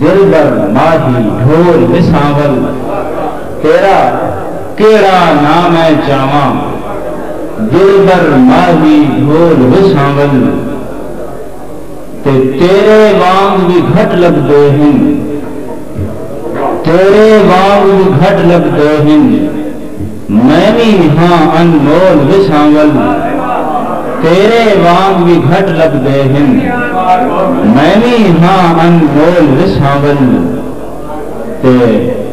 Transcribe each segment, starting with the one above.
دلبر ماہی ڈھول وساول تیرا کیڑا ناں میں چاواں دلبر ماہی ڈھول وساول تے تیرے وانگ وی گھٹ لبھدے ہن تیرے وانگ وی گھٹ لبھدے ہن۔ میں وی ہاں انمول وچ ہاں ول تیرے وانگ وی گھٹ لبھدے ہن میں وی ہاں انمول وچ ہاں ول تے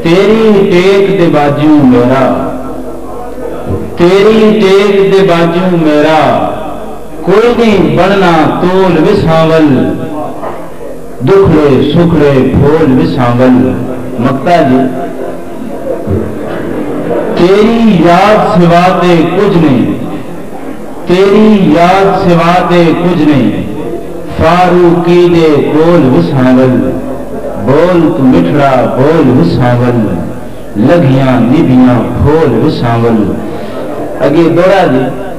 تیری ٹیک دے باجوں میرا تیری ٹیک دے باجوں میرا کوئی نی بننا تول وچ ہاں ول دکھڑے سکھڑے پھول وچ ہاں ول مکتا جی۔ تیݙی یاد سوا تے کجھ نئیں تیݙی یاد سوا تے کجھ نئیں فاروقی دے ٻول وساں ول ٻول توں مٹھڑا ٻول وساں ول لگھیاں ندیاں پھول وساں ول اڳے ٻوڑا دی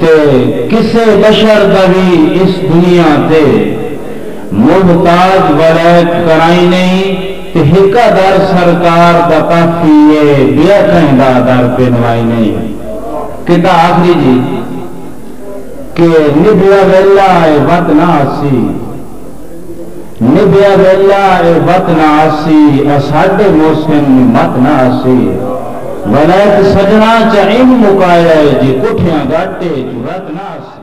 تے کسے بشر دا وی اس دنیا تے محتاج ولیک کرائیں نئیں تے ہکا در سرکار دا کافی اے بیا کہیں دا در پنوائیں نئیں کتا آخری جی کہ نبھیا ویلا اے وت نہ آسی۔ ندھیا ویلا اے وت نہ آسی اساڈے محسن نی مت نہ آسی ولائت سجناں چا انج مکایا اے جے کٹھیاں گٹ اے جو رت نہ آسی۔